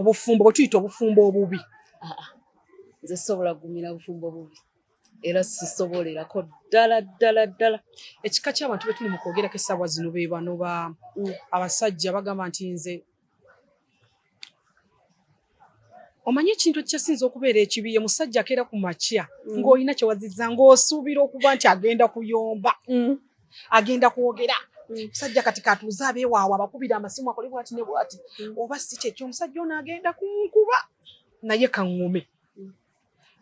obufumbo bwe tuyita obufumbo obubi nze sobola kugumira bufumbo bubi era sisobolerako ddala ddala ddala ekika ky'abantu betuli mu kwogerako essaawa zino be bano ba mm. abasajja bagamba nti nze omanyi ekintu ekikyasinza okubeera ekibi ye musajja akeera ku makya mm. ng'olina kyewaziza ng'osuubira okuba nti agenda kuyomba mm. agenda kwogera mm. musajja kati katuuze abeewaawo abakubira amasimu akole bwati ne bwati mm. oba si kyekyo omusajja ono agenda kunkuba naye kaŋŋume mm.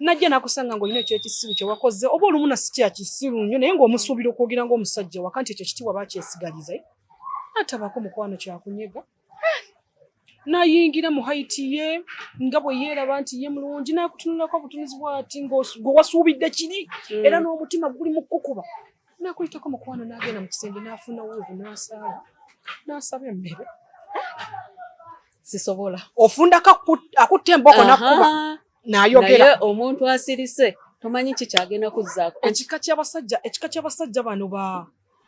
najja nakusanga nga olina ekyekisiru kyewakoze oba olumu nasi kyakisiru nnyo naye ngaomusuubira okwogera ngaomusajja waka nti ekyo kitiwa bakyesigaliza atabako mukwano kyakunyega nayingira mu haiti ye nga bwe yeeraba nti ye mulungi nakutunulako obutunuzi bwati ngwe wasuubidde kiri hmm. era n'omutima guli mu kukuba nakuyitako mukwano nagenda mu kisenge nafuna wuuvu nasaala nasaba emmere sisobola ofunda akutta emboko nakuba nayogera omuntu asirise tomanyi kikyagenda kuzzaako ekika ky'abasajja ekika ky'abasajja bano ba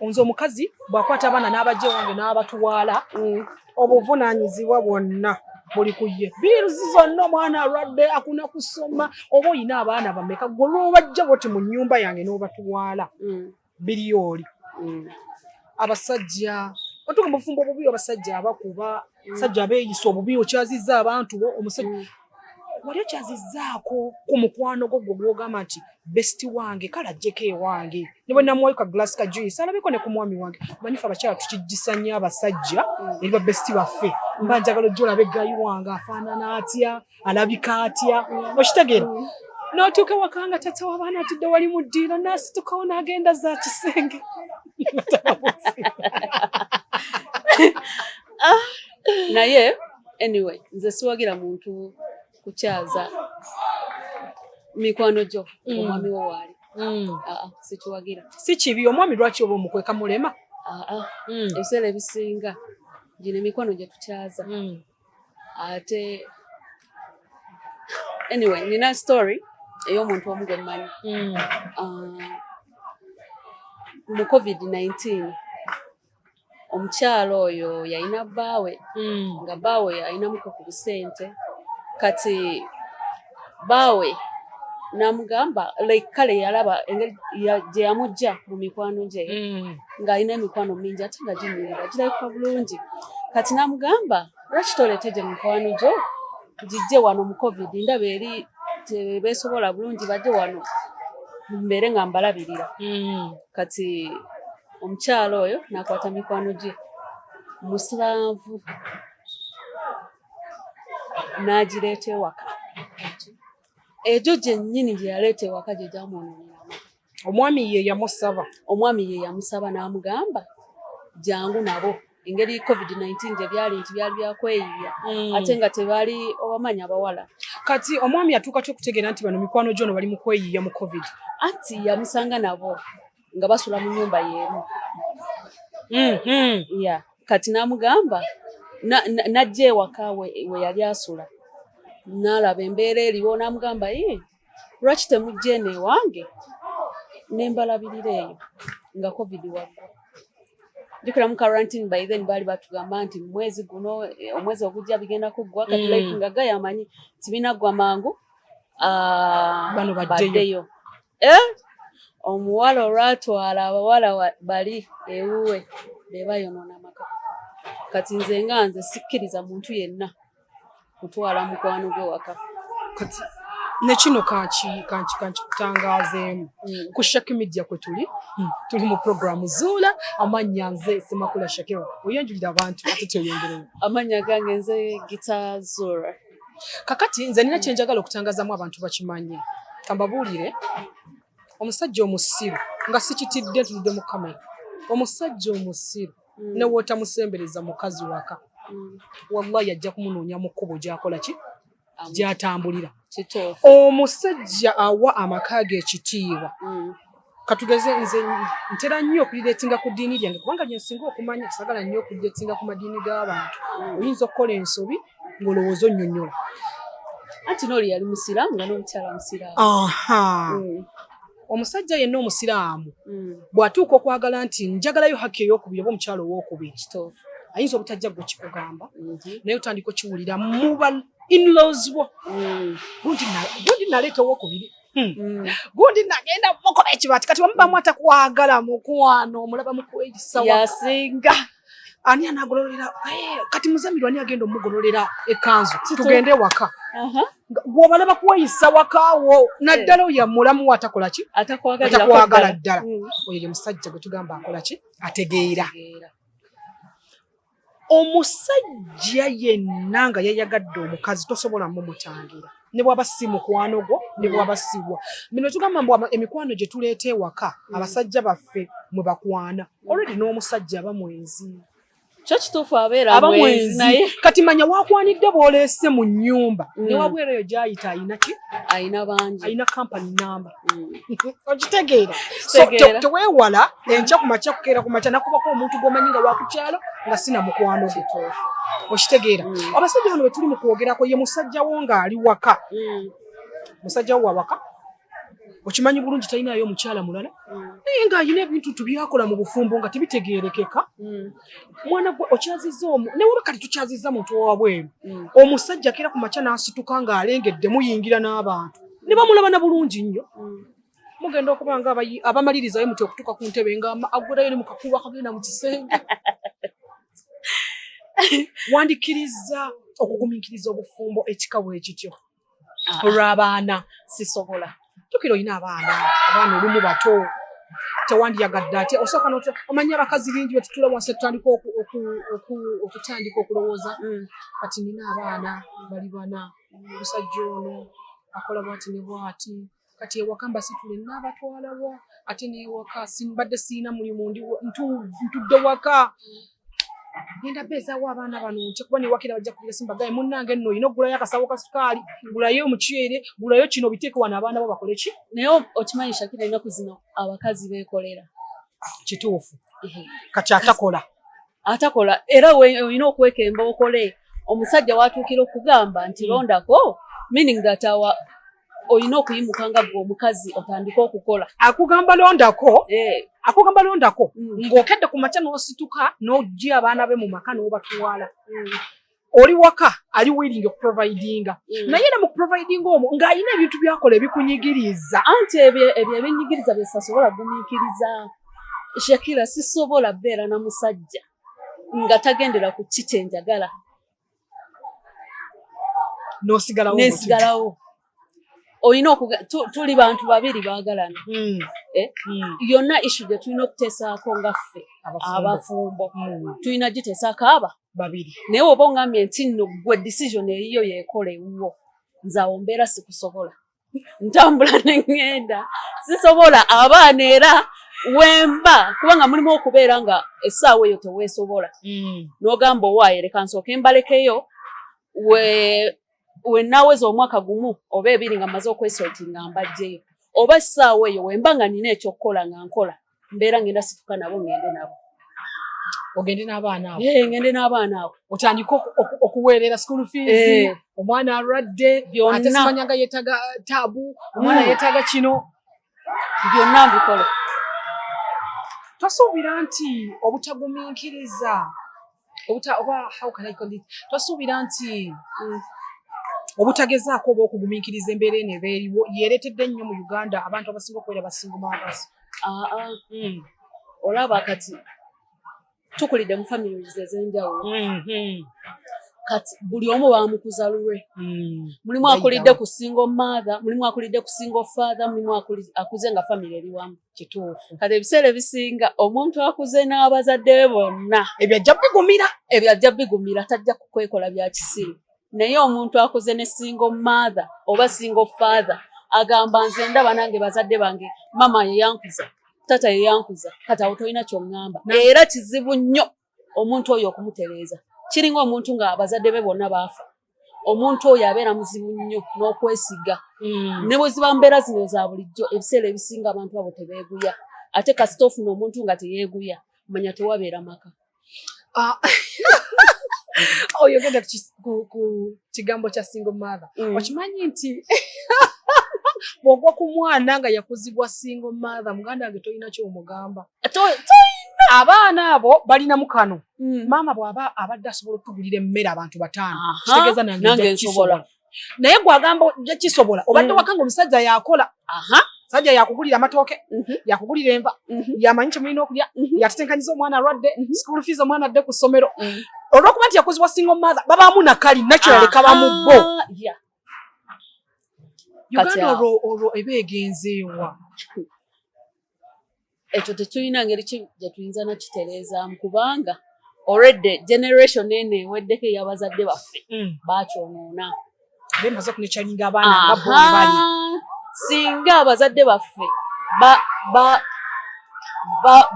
nze omukazi bwakwata abaana n'abajja ewange n'abatuwaala mm. obuvunaanyizibwa bwonna buli ku ye biiruzi zonna omwana alwadde akuna kusoma oba olina abaana bameka gwe lwobajja boti mu nnyumba yange n'obatuwaala mm. biri oli mm. abasajja otuga mubufumbo obubi abasajja abakuba sajja abeeyisa obubi okyazizza abantu bo omusajja mm. wali okyazizzaako ku mukwano gwo gwe gwogamba nti best wange kale ajjeko ewange ne bwe namuwayo ka glass ka juice alabeko ne ku mwami wange manyifa abakyala tukijjisa nnyo abasajja mm. eri ba best baffe mba njagala ojja olabe gayi wange afaanana atya alabika atya okitegeera mm. n'otuuka waka nga tata w'abaana atudde wali mu ddiiro n'asitukawo n'agenda za kisenge ah, naye anyway nze siwagira muntu kukyaza mikwano gyo mm. omwami wo waali mm. ah, ah, sikiwagira si kibi omwami lwaki oba omukweka mulema ebiseera ebisinga gino emikwano gye tukyaza ate anyway nina story ey'omuntu omu gwe mmanyi mm. ah, mu covid 19 omukyalo oyo yalina bbaawe mm. nga bbaawe alinamuko ku busente kati baawe namugamba like kale yalaba engeri gye yamujja mu mikwano gye mm. ng'alina emikwano mingi ate nga ginyirira girabika bulungi kati namugamba lwaki toleete gye mikwano gyo gijje wano mu covid ndaba eri tebesobola bulungi bajje wano mbeere nga mbalabirira mm. kati omukyalo oyo nakwata mikwano gye musibanvu n'agireeta ewaka egyo gyennyini gye yaleeta ewaka gye gyamwonoonera omwami ye yamusaba omwami ye yamusaba n'amugamba jangu nabo engeri covid-19 gye byali nti byali byakweyiya mm. ate nga tebali obamanya abawala kati omwami atuuka ty okutegeera nti bano mikwano gyono bali mu kweyiya mu covid anti yamusanga nabo nga basula mu nyumba yeemu mm -hmm. yeah. kati namugamba najja na, na ewaka we, we yali asula nalaba embeera eriwo namugamba ye lwaki temujja eno ewange nembalabirira eyo nga covid wagwa jukira mu quarantine by then baali batugamba nti mwezi guno omwezi ogujja bigenda kuggwa kati mm. like nga gayamanyi tibinaggwa mangu ah, bano baddeyo eh? omuwala olwatwala abawala bali ewuwe bebayonona amaka kati nze nga nze sikkiriza muntu yenna kutwala mukwano gwe waka kati nekino kankikutangazeemu mm. ku shaki media kwe tuli mm. tuli mu programu zuula amannya nze semakula shakira oyanjulira abantu ate tyoyongereo amannya gange nze gita zuula kakati nze nina kyenjagala okutangazamu abantu bakimanye kambabuulire omusajja omusiru nga sikitidde ntudde mu kamera omusajja omusiru mm. newootamusembereza mukazi waka mm. wallahi ajja kumunoonya mu kkubo gyakola ki gyatambulira omusajja awa amaka ge ekitiibwa mm. katugeze nze ntera nnyo okuliretinga ku ddiini lyange kubanga lyensinga okumanya sagala nnyo okuliretinga ku madiini g'abantu oyinza okukola ensobi ng'olowooza onnyonnyola anti nooli yali musiraamu nga n'omukyala musiraamu mm. omusajja yenna omusiraamu mm. bw'atuuka okwagala nti njagalayo haki ey'okubiri oba omukyala ow'okubiri ayinza obutajja gwe kikugamba mm-hmm. naye otandika okiwulira muba inlaws bo mm. gundi naleeta ow'okubiri Hmm. Mm. gundi nagenda mukola ekibati kati bamubamu mm. atakwagala mukwano omulaba mukuwekisawayasinga ani anagololera eh, kati muzamiru ani agenda omugololera ekanzu tugende waka gwobalaba kuweyisa wakawo naddala eh. oyo amulamu atakolaki atakwagala ddala mm. oyo ye musajja gwetugamba akolaki ategeera omusajja yenna nga yayagadde omukazi tosobola mumutangira ne bwaba si mukwano gwo ne bwaba siwa bino tugamba mbu emikwano gye tuleeta ewaka mm. abasajja baffe mwe bakwana olwedi n'omusajja aba mwenzi kyo kituufu abeera aba mwenzi naye kati manya wakwanidde bwoleese mu nnyumba mm. ne wabwereyo gyayita ayina ki ayina bangi ayina kampani namba Mm. okitegeera teweewala mm. enkya ku makya kukeera ku makya nakubako omuntu gwomanyi nga wakukyalo nga sina mukwano gwe okitegeera mm. abasajja bano wetuli mukwogerako ye musajja wo ngaali waka musajja wo wawaka okimanyi bulungi talinayo omukyala mulala naye nga alina ebintu tubyakola mu bufumbo nga tebitegeerekeka mwana gwe okyaziza omu newaba kati tukyaziza muntu owabweru mm. omusajja kera ku makya n'asituka ng'alengedde muyingira n'abantu ne bamulaba na bulungi nnyo mm. mugenda okuba nga abamalirizayo muti okutuuka ku ntebe nga aggulayo ne mukakuba akagenda mu kisenge wandikiriza okugumiikiriza obufumbo ekika bwe kityo ah. olw'abaana sisobola tukira olina abaana abaana olumu bato tewandiyagadde ate osooka omanya abakazi bingi betutula wansi tutandika okutandika okulowooza mm. kati nina abaana bali bana omusajja ono akola bwati ne bwati kati ewaka mbasitule naabatwalawa ate newaka simbadde siina mulimu ntudde waka genda beezaawo abaana bano nti kuba newakira bajja kuira simbagaye munnange nno olina okugulayo akasawo ka sukaali gulayo omuceere gulayo kino biteeke wano abaana bo bakole ki naye okimanyi shakira enaku zino abakazi beekolera kituufu kati atakola atakola era olina okwekemba okole omusajja watuukira okugamba nti mm. londako meaning that our olina okuyimuka nga gwe omukazi otandike okukola akugamba londako eh. akugamba londako mm. ng'okedde ku makya n'osituka n'ojja abaana be mu maka n'obatwala mm. oli waka ali willing okuprovidinga mm. naye ne mukuprovidinga omwo ng'alina ebintu byakola ebikunyigiriza anti ebyo ebinyigiriza byesasobola gumiikiriza shakira sisobola beera na musajja nga tagendera ku ki kyenjagala nosigalawo nesigalawo olina tuli bantu babiri bagalana hmm. eh? hmm. yonna issu gye tulina okutesaako nga ffe abafumbo hmm. tulina gitesaako aba babiri naye oba ongambye nti nno gwe decision eyiyo yekola ewuwo nze awo mbeera sikusobola ntambula ne ŋŋenda sisobola abaana era wemba kubanga mulimu okubeera nga essaawa eyo teweesobola mm. n'ogamba owaaye leka nsooke mbalekeyo we wenaweza omwaka gumu oba ebiri nga maze okwesotinga mbajjeyo oba essaawa eyo wemba nga nina ekyokukola nga nkola mbeera ngenda situka nabo ngende nabo ogende n'abaana abo eh, ngende n'abaana abo otandike okuweerera school fees eh. omwana alwadde ate simanya nga yeetaga uh, taabu omwana hmm. yeetaga kino byonna mbikola tosuubira nti obutagumiikiriza obuta oba how can I call it twasuubira nti mm, obutagezaako oba okugumiikiriza embeera eno eba eriwo yeeretedde nnyo mu uganda abantu abasinga okubeera basinga maabasi ah, ah. mm. olaba kati tukulidde mu families ez'enjawulo mm-hmm. kati buli omu bamukuza lulwe mm. mulimu akulidde ku single mother mulimu akulidde ku single father mulimu akuze nga family eri wamu kituufu kati ebiseera ebisinga omuntu akuze n'abazadde be bonna ebyo ajja bigumira ebyo ajja bigumira tajja kukwekola bya kisiru naye omuntu akuze ne single mother oba single father agamba nze ndaba nange bazadde bange mama yeyankuza tata yeyankuza kati awo tolina kyoŋŋamba era kizibu nnyo omuntu oyo okumutereeza kiringa omuntu nga abazadde be bonna baafa omuntu oyo abeera muzibu nnyo n'okwesiga hmm. ne bwe ziba mbeera zino za bulijjo ebiseera ebisinga abantu abo tebeeguya ate kasita ofuna omuntu nga teyeeguya manya tewabeera maka ah. oyogenda ku kigambo kya single mother hmm. okimanyi nti bwogwa ku mwana nga yakuzibwa single mother muganda wange tolina kyomugamba abaana abo balina mukano hmm. maama bw'aba abadde asobola okutugulira emmere abantu bataano kitegeeza nange nsobola naye gwagamba ojja kisobola obadde hmm. wakanga omusajja yakola sajja yakugulira amatooke mhm. yakugulira enva mhm. yamanyi kyemulina okulya mhm. yatetenkanyiza omwana alwadde school fees omwana adde ku ssomero olwokuba nti yakozibwa single mother babaamu nakali naturally kabamu bo uganda olwo ebeegenzeewa ekyo tetulina ngeri gye tuyinza nakitereezaamu kubanga already generation eno eweddeko eyabazadde baffe mm. bakyonoona singa abazadde baffe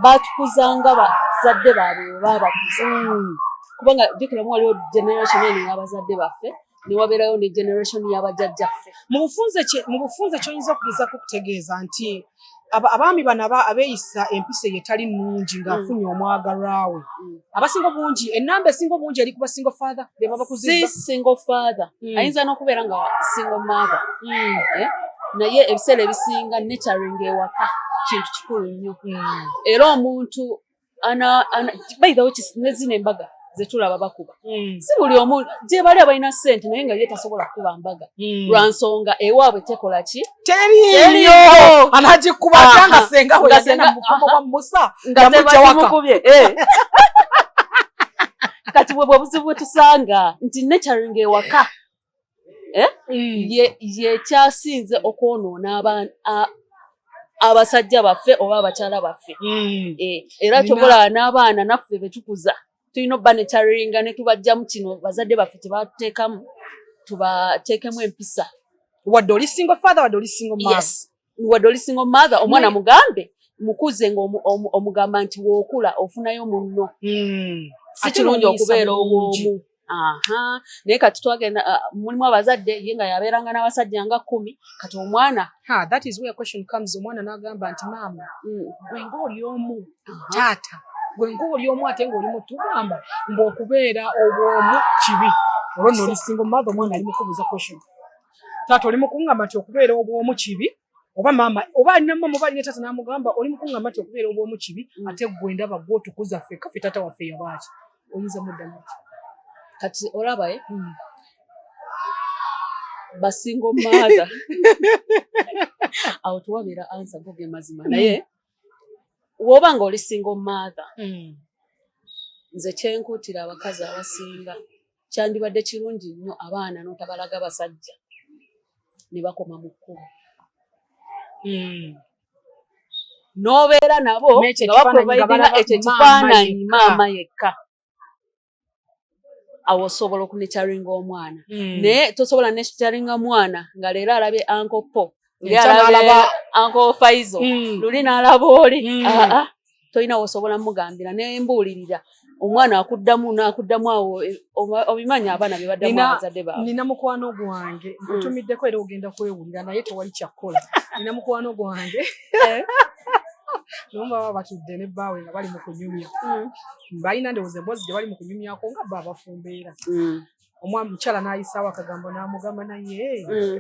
batukuzanga bazadde baabwe webabakuza mm. kubanga jukiramu waliwo generation eno eyabazadde baffe ne wabeerayo ne generation y'abajjajjaffe. Mu bufunze kye mu bufunze ky'oyinza okugeza ku kutegeeza nti abaami bano abeeyisa empisa eyo etali nnungi ng'afunye mm. omwagalwa we mm. abasinga obungi ennamba esinga obungi eri ku basingo father be babakuziza si singo father mm. ayinza n'okubeera nga singo mother eh? naye ebiseera ebisinga netaringa ewaka kintu kikulu nnyo era omuntu ana ana by the way nezina embaga zetulaba bakuba mm. si buli omu gyebali abalina sente naye nga ye tasobola kukuba mbaga mm. lwa nsonga ewaabwe tekola ki teriyo anagikuba atanga senga we yagenda mubufumo bwa musa nga tebakimukubye eh. kati bwebwe obuzibu bwetusanga nti naturing ewaka eh? mm. yekyasinze okwonoona abasajja baffe oba abakyala baffe mm. eh, era kyobola n'abaana naffe betukuza tulina obba nekyariringa netubajjamu kino bazadde baffe tebatekamu tubateekemu empisa wadde oli single father wadde oli single mom yes. wadde oli single mother omwana mugambe mukuze nga omugamba nti wokula ofunayo munno hmm. si kirungi okubeera owomu aha naye kati twagenda uh, mulimu abazadde ye nga yabeeranga n'abasajja nga kumi kati omwana omwana n'agamba nti maama hmm. gwe ngaoli omu taata gwe ngaoli omu ate ngaoli mutugamba ngaokubeera obwomu kibi olwo nolisinga omumaatha omwana ali mukubuuza question taata oli mukungamba nti okubeera obwomu kibi oba maama oba alina maama oba alina taata namugamba oli mukungamba nti okubeera obwomu kibi mm. ate gwe ndaba gwe otukuza ffe kafe taata waffe yabaaki oyinza muddamu kati olaba e hmm. basingo maatha awo tewabeera ansa goge mazima hmm. naye woba nga oli singo maatha hmm. nze kyenkutira abakazi abasinga kyandibadde kirungi nnyo abaana notabalaga basajja ne bakoma mu kkubo hmm. n'obeera nabo nga bakubaidinga ekyo ekifaananyi maama yekka awo osobola okunekyaringa omwana hmm. naye tosobola nekyaringa mwana nga leero alabye ankopo nkyanaalabaankoofaizo mm. luli n'alaba oli mm. ah, ah. tolina wosobola mugambira nembuulirira omwana akuddamu nakuddamu awo eh, obimanyi abaana bebaddamu abazadde baabwe nina mukwano gwange mm. nkutumiddeko era ogenda kwewulira naye tewali kyakkola nina mukwano gwange eh? naye baba batudde ne bbaawe nga bali mu kunyumya mm. balina ndowooza emboozi gye bali mu kunyumyako nga bba abafumbeera mm. omwami mukyala n'ayisaawo akagambo n'amugamba naye mm.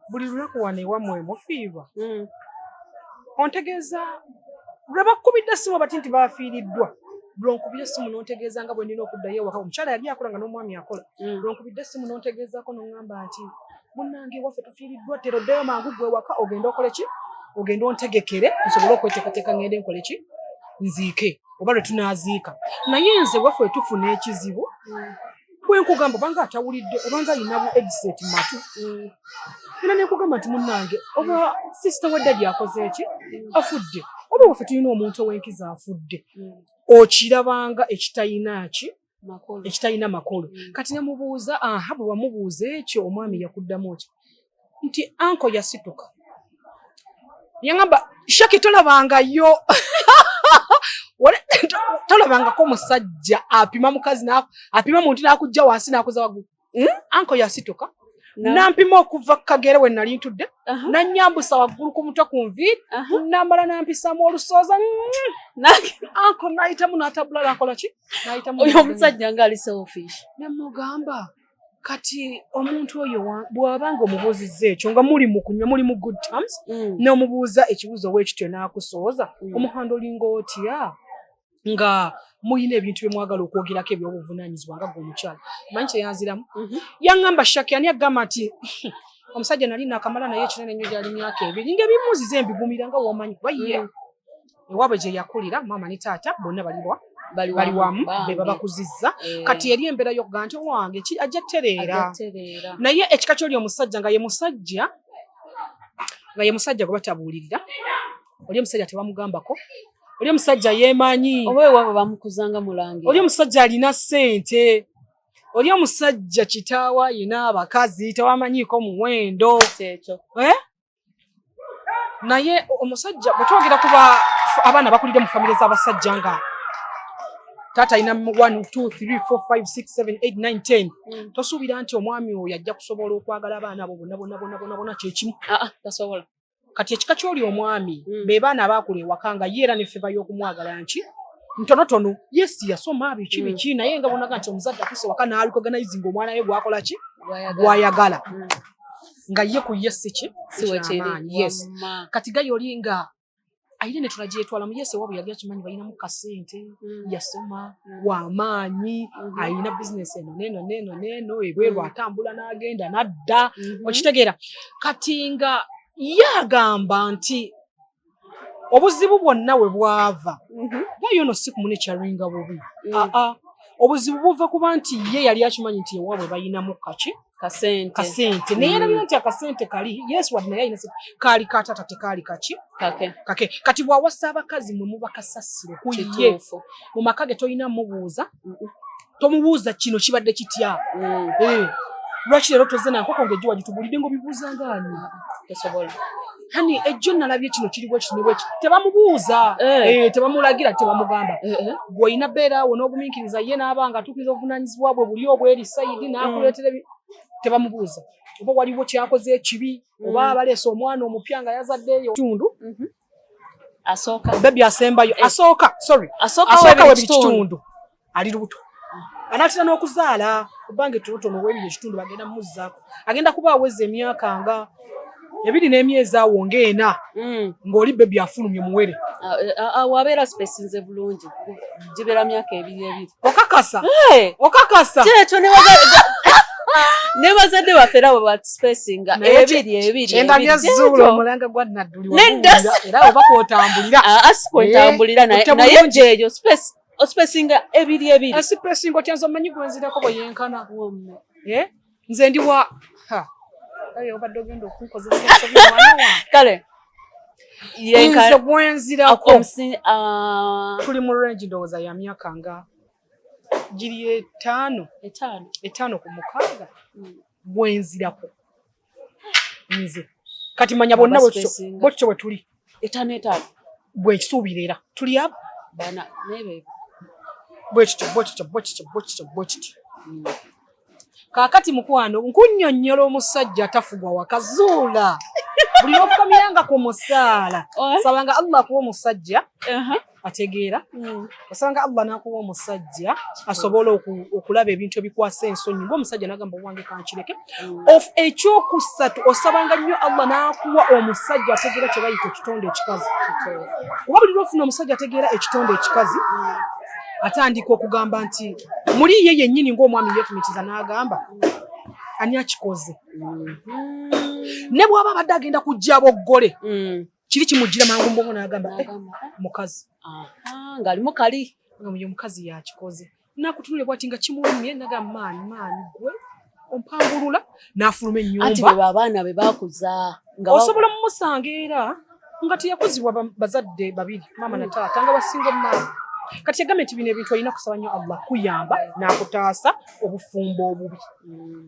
buli lunaku wano ewamwe mufiirwa mm. ontegeeza lwe bakkubidde essimu abati nti baafiiriddwa lwonkubira essimu n'ontegeeza nga bwe nina okuddayo ewaka omukyala yali akola nga n'omwami akola mm. lwonkubidde essimu n'ontegeezaako n'oŋŋamba nti munange waffe tufiiriddwa ttera oddeyo mangu gwe waka ogende okole ki ogende ontegekere nsobole okweteekateeka ngende nkole ki nziike oba lwe tunaaziika naye nze waffe tufuna ekizibu bwenkugamba obanga atawulidde obanga alina bu edset matu era nekugamba nti munange oba sisita wadda gyakoze eki afudde oba waffe tulina omuntu owenkiza afudde okirabanga ekitayina ki ekitalina makulu mm. kati nemubuuza aha bwe wamubuuza ekyo omwami yakuddamu ki nti anko yasituka yangamba shaki tolabangayo tolabangako musajja apima mukazi apima muntu nakujja wansi nakuza wagulu hmm? anko yasituka nampima okuva kukagere we nali ntudde nanyambusa waggulu ku mutwe ku nviiri namala nampisamu olusooza anko nayitamu natabulala akola ki oyo omusajja nga ali selfish nemugamba kati omuntu oyo bwaba nga omubuuzizza ekyo nga muli mukunywa muli mu good terms mm. nomubuuza ekibuuzo wekityo nakusooza mm. omuhanda olinga otya nga mulina ebintu bye mwagala okwogerako eby'obuvunaanyizibwa nga gwe omukyala manyi kyeyanziramu mhm. yaŋŋamba shaki ani agamba nti omusajja nali nakamala naye ekinene nnyo gyali myaka ebiri nga ebimuzize mbigumira nga wamanyi kuba ye mm. ewaabwe gye yakulira maama ne taata bonna baliwa bali wamu be babakuzizza eh. kati eri embeera yokuga nti owange ajja tereera naye ekika kyoli omusajja nga ye musajja nga ye musajja gwe batabuulirira oli omusajja tebamugambako oli omusajja yemanyi oba ewabo bamukuzanga mulangira oli omusajja alina ssente oli omusajja kitaawa yina abakazi tewamanyiiko muwendo kyekyo eh? naye omusajja bwetwogera kuba abaana bakulidde mu famire z'abasajja nga taata alina 12345678910 mm. tosuubira nti omwami oyo ajja kusobola okwagala abaana abo bona bona bona bona bona kyekimu ah, ah, tasobola kati ekika kyoli omwami mm. be baana abaakula ewaka nga ye era nefeba y'okumwagala nki ntonotono yes yasoma biki mm. biki naye nga bonaga nti omuzadde akuse waka naalukoganaizinga omwana we gwakola ki gwayagala mm. nga ye ku ye siki siwekyamaanyi yes kati gaye oli nga ayina ne tunagyetwala mu yesu ewabwe yali akimanyi balinamu kasente mm. yasoma mm. wamaanyi mm-hmm. ayina bizinesi eno neno neno neno ebweru mm. atambula n'agenda n'adda mm-hmm. okitegeera kati nga ye agamba nti obuzibu bwonna we bwava mm-hmm. naye ono si kumune kyaringa bubi mm. aa ah, ah. obuzibu buva kuba nti ye yali akimanyi nti ewabwe balinamu kaki kasente kasente naye era bino nti akasente kali yesu wadde naye alina sente kaali ka taata tekaali kaki kake kake kati bw'awasa abakazi mwe muba kasasiro ku ye kituufu mu maka ge tolina mubuuza tomubuuza kino kibadde kitya Mm, Eh, lwaki leero tozze nankoko ng'ejjo wagitubulidde ng'obibuuza ng'ani tosobola hani ejjo nalabye kino kiri bwe kino bwe tebamubuuza eh. eh tebamulagira tebamugamba eh, eh. gwe ina bera wo n'oguminkiriza ye n'abanga atukiza obuvunanyizibwa bwe buli obwe eri sayidi n'akuleetera mm. tebamubuuza oba waliwo kyakoze ekibi oba mm. abaleese omwana omupya nga yazaddeyo tundu mhm. asooka bebi asembayo asooka sorry asooka webiri kitundu ali lubuto anaatera n'okuzaala kubanga ettonotono w'ebiri ekitundu bagenda mumuzzaako agenda kuba aweza emyaka nga ebiri n'emyezi awo ng'ena hmm. ng'oli bebi afulumye muwere ah, eh, ah, ah, wabeera sipesinze bulungi gibeera myaka ebiri ebiri okakasa okakasa kyekyo nebazadde baffe rabo batusipesinga ebiri ebiriendabyazzuula omulanga gwa nadduli era oba kwotambulira asikwetambulira eh, naye gyeyo space osipesinga ebiri ebiri asipesinga otya nze omanyi gwenzirako bwe yenkana wamma eh? nze ndi wa obadde ogenda okunkozesa kale nze gwenzirako ah. tuli mu range ndowooza ya myaka nga giri etaano etaano ku mukaaga hmm. gwenzirako nze kati manya bonna bwekityo bwe tuli etaano etaano bwekisuubira era tuli abo bana nebe bwekityo bwekityo bwekityo bwekityo bwekityo hmm. kakati mukwano nkunyonyola omusajja atafugwa wakazuula buli lofukamira nga ku musaala oh. sabanga allah akuwa omusajja uh-huh. ategeera mm. osanga allah nakuwa omusajja asobola okulaba ebintu ebikwasa ensonyi ngaomusajja nagamba owange kankireke mm. of ekyokusatu osabanga nnyo allah nakuwa omusajja ategeera kyebayita ekitonde ekikazi kuba buli lwofuna omusajja ategeera ekitonde ekikazi mm. atandika okugamba nti muli ye yennyini ngaomwami yefumitiza nagamba ani akikoze mm-hmm. ne bwaba abadde agenda kujja boggole kiri kimujjira mangu mbongo n'agamba eh, mukazi ng'alimu kali ngamuyo omukazi yakikoze nakutunule bwati nga kimulumye nagamba maani maani gwe ompangulula n'afuluma ennyumba abaana be bakuza osobola mumusanga era nga teyakuzibwa bazadde babiri maama na taata nga basinga omumaama kati yagambye nti bino ebintu olina kusaba nnyo allah kuyamba n'akutaasa obufumbo obubi mm.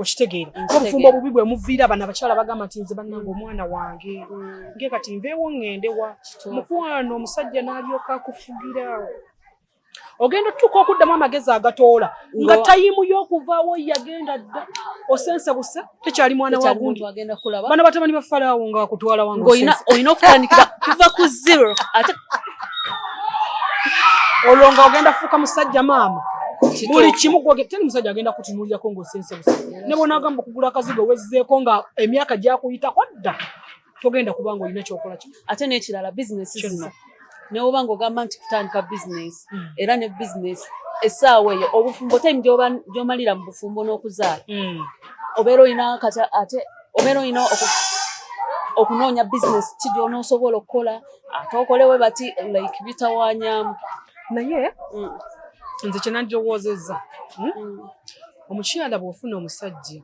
okitegeera obufumbo obubi bwe muviira abana abakyala bagamba nti nze bannange omwana wange mm. nge kati nveewo ŋŋende wa mukwano omusajja n'alyoka akufugira ogenda otutuuka okuddamu amagezi agatoola nga tayimu y'okuvaawo yagenda dda osense busa tekyali mwana wa gundi bano batabani ba falaawo nga wakutwala wange olina okutandikira kuva ku zero ate olwo nga ogenda fuuka musajja maama buli kimu teri musajja agenda kutunuulirako ng'osense busa ne bwonaagamba okugula akazigo owezzeeko nga emyaka gyakuyitako dda togenda kuba nga olina kyokola kino ate n'ekirala bizinesi zino newoba ng'ogamba nti kutandika bizinesi hmm. era ne bizinesi essaawa eyo obufumbo time gy'omalira mu bufumbo n'okuzaala hmm. obeera olina kati ate obeera olina okunoonya bizinesi ki gy'onoosobola okukola ate okolewe bati like bitawanyamu naye mm. nze kyenandowozeza hmm? mm. omukyala bwofuna omusajja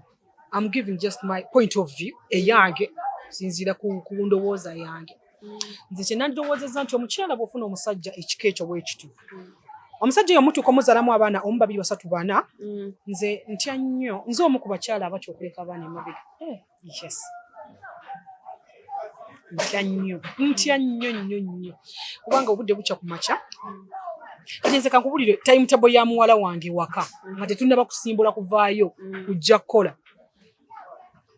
am giving just my point of view eyange sinziira ku ndowooza yange mm. nze kyenandowozeza nti omukyala bwofuna omusajja ekika ekyo bwekityo omusajja oyo omutuuka omuzalamu abaana omu babiri basatu bana nze ntya nnyo nze omu ku bakyala abatya okuleka abaana emabega eh. Yes. Ntya nnyo ntya nnyo nnyo nnyo kubanga obudde bukya ku makya kati nze kankubulire time table ya muwala wange waka nga tetunnaba kusimbula kuvaayo mm. kujja kukola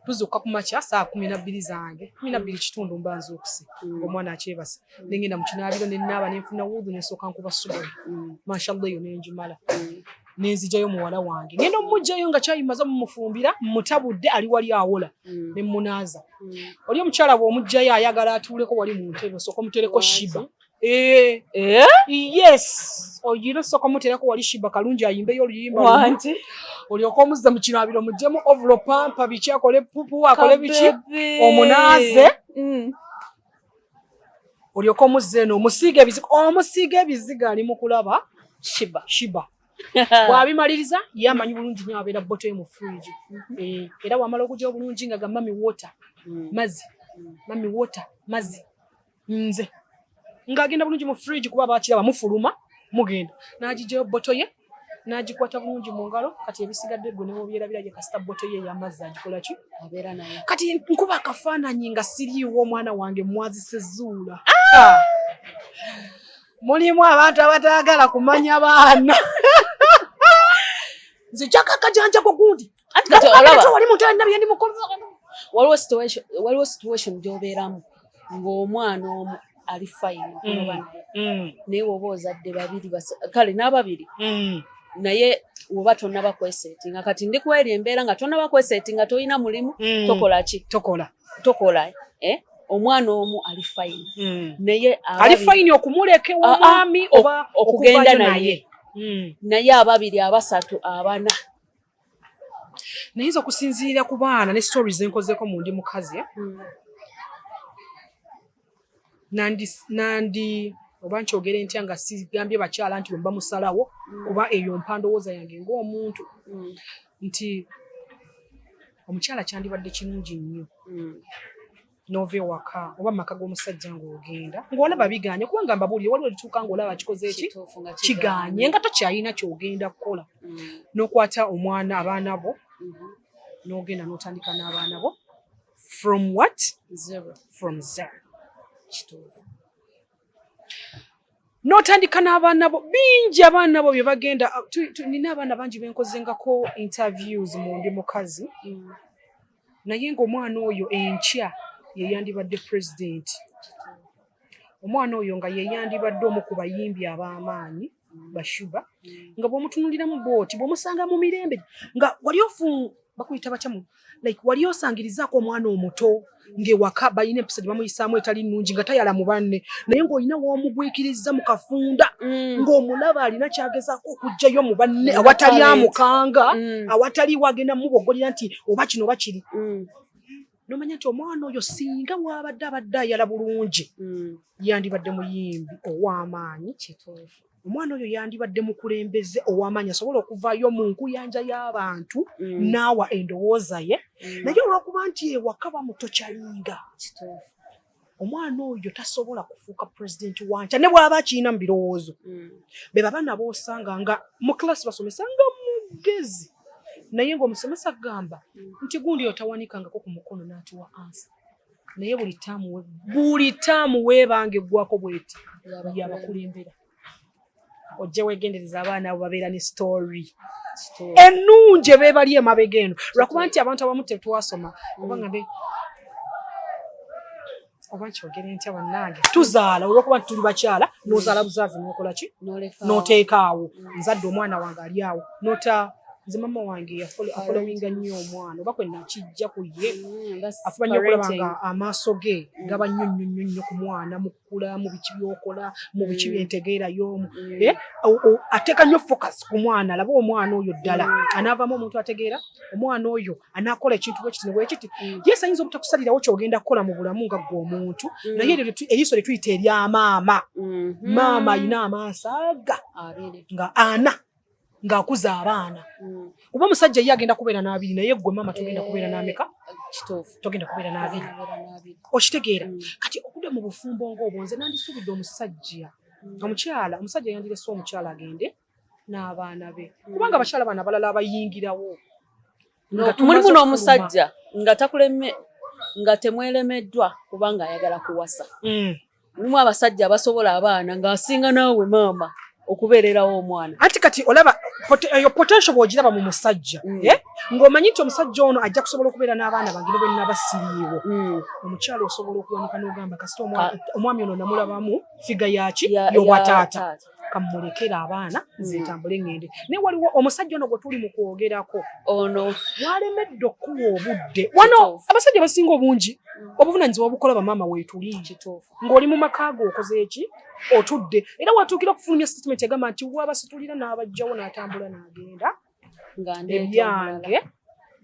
tuzuuka ku makya saa kumi nabbiri zange kumi nabbiri kitundu mba nzuukuse mm. omwana akyebasa mm. nengenda mu kinaabiro ne naaba ne nfuna wuudhu ne nsooka nkuba subuhi mashallah eyo ne njumala nenzijayo muwala wange ngenda omumugjayo nga kyayimaza mumufumbira mutabudde ali wali awola mm. nemunaaza mm. oli omukyala bwomugjayo ayagala atuuleko wali mu ntebe osooka omutereko shiba eh. Eh? yes oyina osooka omutereko wali shiba kalungi ayimbeyo oluyimba olyoka omuzza mu kinaabiro mujjemu ovulo pampa biki akole pupu akole biki omunaaze mm. olyoka omuzza eno omusiiga ebizigo omusiiga ebizigo ali mu kulaba shiba shiba bwabimaliriza ye amanyi bulungi nyo abeera boto mu fridge mhm. eh, era wamala okuja obulungi nga ga mami water mm. mazi mami water mazi nze ng'agenda bulungi mu fridge kuba bakiraba mufuluma mugenda n'agijayo boto ye n'agikwata bulungi mu ngalo kati ebisigadde gwe newobyerabira ye kasita boto ye eyamazzi agikola ki abeera naye kati nkuba akafaananyi nga siriiwo omwana wange mwazise zuula ah! mulimu abantu abataagala kumanya baana nze jakakajanjako gundi waliwo situation waliwo situation gyobeeramu ng'omwana omu ali fayini okunoba mm, naye mm. naye woba ozadde babiri kale n'ababiri mm. naye woba tonaba kwesetinga kati ndi kweri embeera nga tonaba kwesetinga tolina mulimu tokola ki tokola tokola eh? omwana omu ali fayini naye ali fayini okumuleka ewamwami ah, ah, oba okugenda naye naye ababiri abasatu abana nayinza okusinziira ku baana ne stories zenkozeko mu ndi mukazi eh? hmm. nandi nandi oba nkyogere ntya nga sigambye bakyala nti bwemba musalawo hmm. kuba eyo mpandowooza yange ngaomuntu hmm. nti omukyala kyandibadde kirungi nnyo n'ova ewaka oba mu maka g'omusajja ng'ogenda ng'olaba biganye kubanga mbabuulire waliwo ekituuka ng'olaba kikoze eki kiganye nga tokyalina kyogenda kukola mm. n'okwata omwana abaana bo mm-hmm. n'ogenda n'otandika n'abaana bo from what zero from zero kituufu n'otandika n'abaana bo bingi abaana bo bye bagenda nina abaana bangi benkozengako interviews mu ndi mukazi mm. naye ng'omwana oyo enkya yeyandibadde pulezidenti omwana oyo nga yeyandibadde omu ku bayimbi ab'amaanyi bashuba nga bwomutunuliramu bwoti bwomusanga mu mirembe nga wali ofu bakuyita batya mu like wali osangirizaako omwana omuto ng'ewaka balina empisa gye bamuyisaamu etali nnungi nga tayala mu banne naye ng'olina w'omugwikirizza mu kafunda mm. ng'omulaba alina kyagezaako okugjayo mu banne awatali amukanga mm. awatali wagenda mubogolera nti oba kino oba kiri mm. nomanya nti omwana oyo singa wabadde abadde ayala bulungi mm. yandibadde muyimbi ow'amaanyi kituufu omwana oyo yandibadde mukulembeze owamanya asobola okuvaayo mu nkuyanja y'abantu mm. naawa endowooza ye mm. naye olwokuba nti ewaka bamutocalinga omwana oyo tasobola kufuuka pulezidenti wankya ne bwaba akirina mu birowoozo mm. be baba nabo osanga nga mu kilasi basomesa nga mugezi naye ngaomusomesa agamba mm. nti gundi otawanikangako ku mukono n'atuwa ansa naye buli taamu buli taamu weebanga eggwako bweti yabakulembera ojje wegendereza abaana abo babeera ne story ennungi ebeebali emabega eno lwakuba nti abantu abamu tetwasoma oba nga oba nkyogere ntya bannange tuzaala olwokuba nti tuli bakyala nozaala buzaazi nokola ki noteekaawo nzadde omwana wange ali awo nota nze mama wange afolowinga nnyo omwana oba kwenakijja ku ye mm, afuba nnyo okulaba nga amaaso ge gaba nnyo nnyo nnyo nnyo ku mwana kula mu biki byokola mu biki mm. byentegeera y'omu mm. eh, ateeka nnyo focus ku mwana alaba omwana oyo ddala mm. anaavaamu omuntu ategeera omwana oyo anaakola ekintu bwekiti ne bwekiti yesu ayinza obutakusalirawo kyogenda kukola mu bulamu nga gwe omuntu naye eryo eriiso lye tuyita erya maama mm-hmm. maama alina amaaso aga nga ana ng'akuza abaana mm. kuba omusajja ye agenda kubeera n'abiri naye gwe maama togenda kubeera eh, n'ameka togenda kubeera n'abiri okitegeera mm. kati okuda mu bufumbo ng'obwo nze nandisuubidde omusajja mm. omukyala omusajja yandirese omukyala agende n'abaana be kubanga abakyala baana abalala abayingirawo mulimu n'omusajja nga takuleme nga temwelemeddwa kubanga ayagala kuwasa mm. mulimu abasajja abasobola abaana ng'asinga naawe maama okubeererawo omwana anti kati olaba eyo eh, potential bwogiraba mu musajja mm. eh? ng'omanyi nti omusajja ono ajja kusobola okubeera n'abaana bange ne bwe naba siriiwo mm. omukyala osobola okuwanika n'ogamba kasita omwami ono namulabamu figa yaki yobwataata kamulekere abaana nze mm. ntambule ŋŋende naye waliwo omusajja ono gwe tuli mu kwogerako ono walemedde okukuwa obudde wano abasajja basinga obungi mm. obuvunanyizibwa obukola bamaama weetuli ng'oli mu maka ge okoze eki otudde era watuukira okufulumya sitatimenti agamba nti wabasitulira n'abajjawo n'atambula n'agenda nga ndeeta ebyange omulala.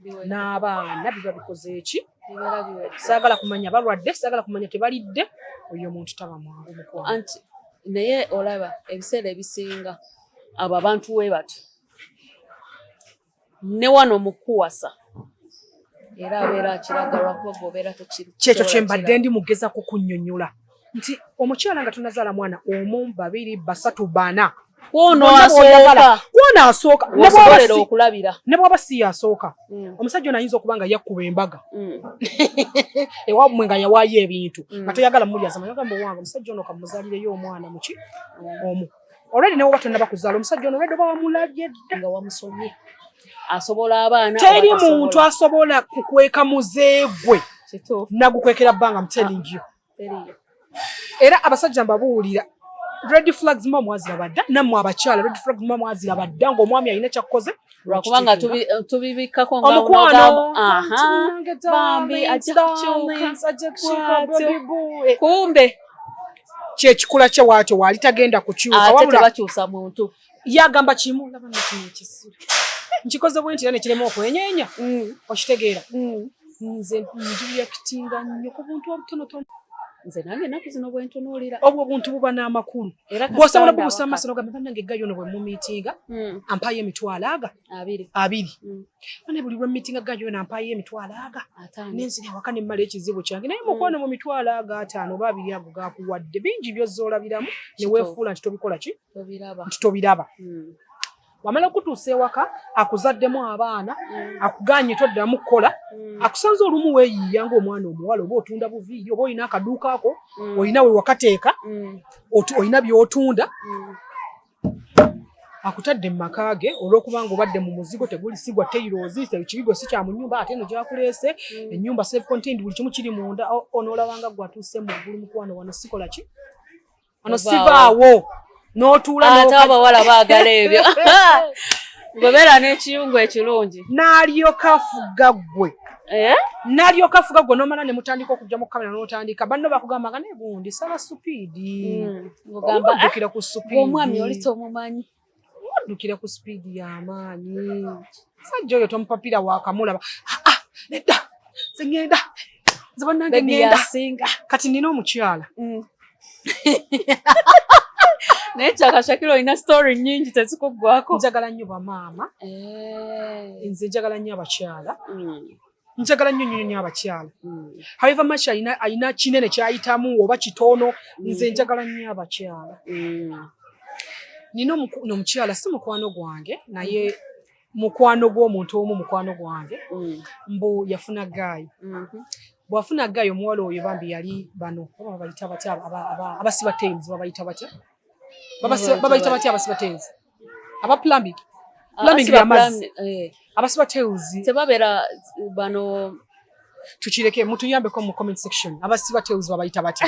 Biwera- n'abaana biba bikoze eki bibeera biwera. saagala kumanya balwadde saagala kumanya tebalidde oyo omuntu taba mwangu mukwano anti naye olaba ebiseera ebisinga abo abantu we bati ne wano mu kuwasa era abeera akiraga lwakuba gwobeera tekiri kyekyo kye mbadde ndi mugezako kunnyonnyola nti omukyala nga tunazaala mwana omu babiri basatu bana kwono asooka ne bwaba si yasooka mm. omusajja ono ayinza okuba nga yakkuba embaga mm. ewamwe nga yawaayo ebintu mm. nga toyagala mulyazamagamba owange omusajja ono kamuzalireyo omwana muki omu olwedi newoba tonnaba kuzaala omusajja ono olwedi oba wamulabye dda nga wamusomye asobola abaana teri muntu asobola kukweka muzeegwe nagukwekera bbanga mtelingiyo era abasajja mbabuulira red flags mwa mwazira badda namwe abakyala red flags mwa mwazira badda ngo mwami ayina chakkoze lwakubanga tubibikako nga omukwano aha bambi kumbe kye kikula kye wacho wali tagenda kukyuka wabula bakyusa muntu yagamba kimu laba nekino ekisiru nkikoze bwe nti era nekirema okwenyenya mm. okitegeera mm. nze njuyakitinga nnyo ku buntu obutonotono nze nange enaku zino bwentunuulira obwo obuntu buba n'amakulu bwosobola bubusa amaaso nogamba banange gayo no bwemumiitinga mm. ampayo emitwalo aga abiri abiri bane buli lwemiitinga gayo no ampayo emitwalo aga nenzira awaka nemmala ekizibu kyange naye mukwano mu mitwalo aga ataano oba abiri ago gakuwadde bingi byozza olabiramu neweefuula nti tobikola ki nti tobiraba hmm. wamala okutuusa ewaka akuzaddemu abaana hmm. akuganye toddamu kukola hmm. akusanze olumu weyiiya ngaomwana omuwala oba otunda buviiri oba olina akaduuka ako olina wewakateeka olina byotunda akutadde mu maka ge olwokubanga obadde mu muzigo tegulisigwa teirozi kibigo si kya mu nyumba ate eno gyakuleese mm. ennyumba self contained buli kimu kiri munda onoolabanga gwatuuse mu ggulu mukwano wano sikola ki ono sivaawo n'otuula ate abawala baagala ebyo gwebeera n'ekiyungu ekirungi n'alyoka afuga ggwe eh? n'alyoka afuga ggwe n'omala ne mutandika okujja mu kamera n'otandika banno bakugamba nga naye gundi sala supiidi hmm, omuddukira ku supiidi omwami oli tomumanyi waddukira ku sipiidi y'amaanyi sajja oyo tomupapira wakamulaba ah, ah, nedda nze ŋŋenda nze bannange ŋŋenda kati nina omukyala mm. naye kyakashakira olina story nyingi tezikuggwako njagala nnyo bamaama eh. nze njagala nnyo abakyala mm. njagala nnyo nnyo nnyo abakyala hmm. however much alina alina kinene kyayitamu oba kitono hmm. nze njagala nnyo abakyala hmm. nina omukyala si mukwano gwange naye mukwano gw'omuntu omu mukwano gwange mbu yafuna gaayi mm-hmm. bwafuna gaayi omuwala oyo bambi yali bano oba babayita batya abasiba tames babayita batya babayita batya abasiba tames aba plumbing plumbing ya mazi eh. abasiba tails tebabera bano tukireke mutuyambeko mu comment section abasiba tails babayita bati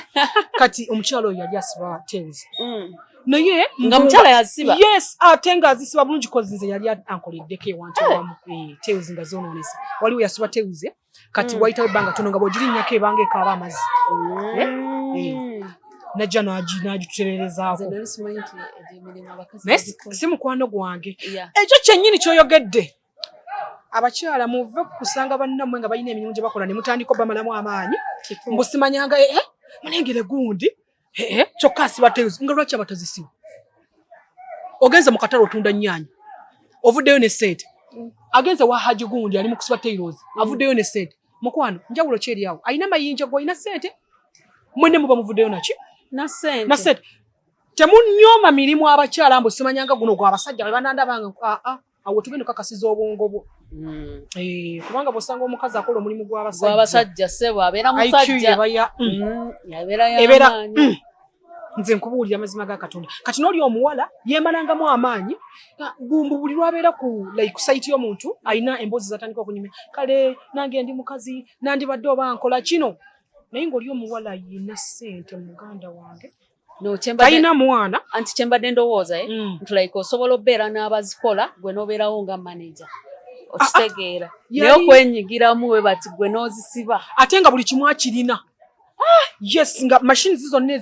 kati omukyalo oyo yali asiba tails mm. naye nga mukyala yasiba yes ate nga azisiba bulungi kozi nze yali ankoleddeko ewantu eh. wamu eh, tails nga zonoonesa waliwo yasiba tails kati mm. wayitawo ebbanga tono nga bwogirinyako ebanga ekaaba amazi mm. eh? Eh. najja nagitutererezaako si mukwano gwange ekyo kyennyini kyoyogedde abakyala muve kusanga bannamwe nga balina emirimu gye bakola ne mutandika obamalamu amaanyi mbusimanyanga eh, mulengere gundi Hehe, kyokka asiba tales nga lwaki abatazisiba? Ogenze mu katale otunda nnyaanya, ovuddeyo ne ssente. Agenze wa Haji gundi ali mu kusiba tales, avuddeyo ne ssente. Mukwano, njawulo ki eri awo? Alina mayinja, gwe olina ssente? Mwenne muba muvuddeyo naki? Na ssente. Na ssente. Temunyooma mirimu abakyala mbu simanyanga guno gwa basajja be banandabanga. Ah, ah. awo tugenda okakasiza obwongo bwo hmm. eh, kubanga bwosanga omukazi akola omulimu gwabasajja sebo abeera musajjaebeera mm, mm. nze nkubuulira amazima ga katonda kati nooli omuwala yemalangamu amaanyi ah, bumbu buli lwabeera ku like saiti y'omuntu alina emboozi zatandika okunyumya kale nange ndi mukazi nandibadde oba nkola kino naye ngaoli omuwala yina sente muganda wange no chemba tayina mwana anti chemba dendo woza eh mm. ntulaika osobola obera n'abazikola gwe noberawo nga manager okitegeera ah, ah. naye okwenyigiramu we bati gwe n'ozisiba ate nga buli kimu akirina ah, yes nga mashini zi zonna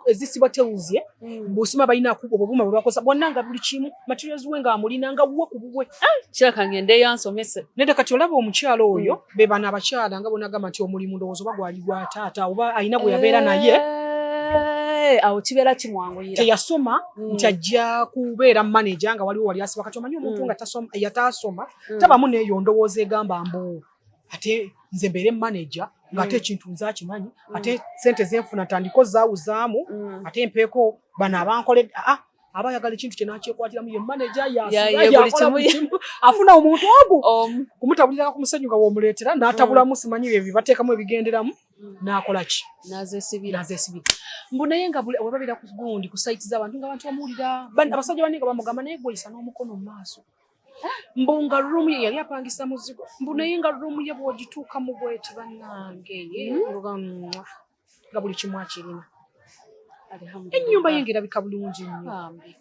ezisiba tewuzie hmm. busima balina kuba obubuma bwe bakozesa bwonna nga buli kimu materials we nga amulina nga wuwe ku bubwe kiraka ngende eyo ansomese nede kati olaba omukyalo oyo hmm. be bano abakyala nga bonagamba nti omulimu ndowooza oba gwali gwa taata oba alina gwe yabeera naye eh, awo kibeera kimwanguyira teyasoma mm. nti ajja kubeera maneja nga waliwo wali asiba kati omanyi omuntu mm. nga yataasoma mm. tabamu neeyo ndowooza egamba mbu ate nze mbeere maneja ng'ate mm. ekintu nze akimanyi mm. ate sente zenfuna ntandiko zaawuzaamu mm. ate mpeeko bano abankole aa ah, ah, aba ayagala ekintu kye n'akyekwatiramu ye maneja yakola buli kimu afuna omuntu ogu kumutabuliranga ku musenyu nga w'omuleetera n'atabulamu mm. simanyi ebyo bateekamu ebigenderamu mm. n'akola ki n'azesibira mbu naye nga webabeera ku gundi ku sayiti z'abantu nga abantu bamuwulira abasajja banne nga bamugamba naye gweyisa n'omukono mu maaso mbu nga ruumu ye yali apangisa muzigo mbu naye nga ruumu ye bw'ogituuka mu bweti bannange mm. nga buli kimu akirina ennyumba ye ngaerabika bulungi nnyo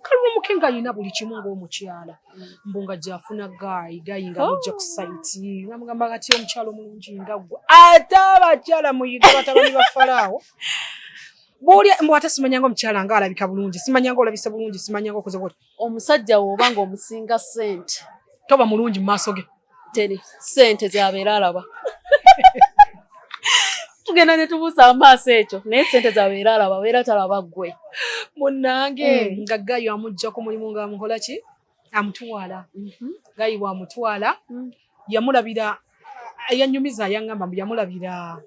kalumuke nga alina buli kimu ngaomukyala mm. mbu nga gyafuna gaayi gaayi nga mujja oh. ku saiti namugamba kati omukyala omulungi nga gwe ate abakyala muyiga batabani ba falaawo buli mbu ate simanyanga omukyala nga alabika bulungi simanyanga olabise bulungi simanyanga okoze bwoti omusajja woba nga omusinga sente toba mulungi mumaaso ge teri sente zabeera alaba tugenda netubuusa amaaso ekyo naye sente zabeera alaba beera talaba gwe munange mm. nga gayo amugja ku mulimu nga amukolaki amutwala mm -hmm. gayi bwamutwala mm. yamulabira yanyumiza yangamba mbu yamulabira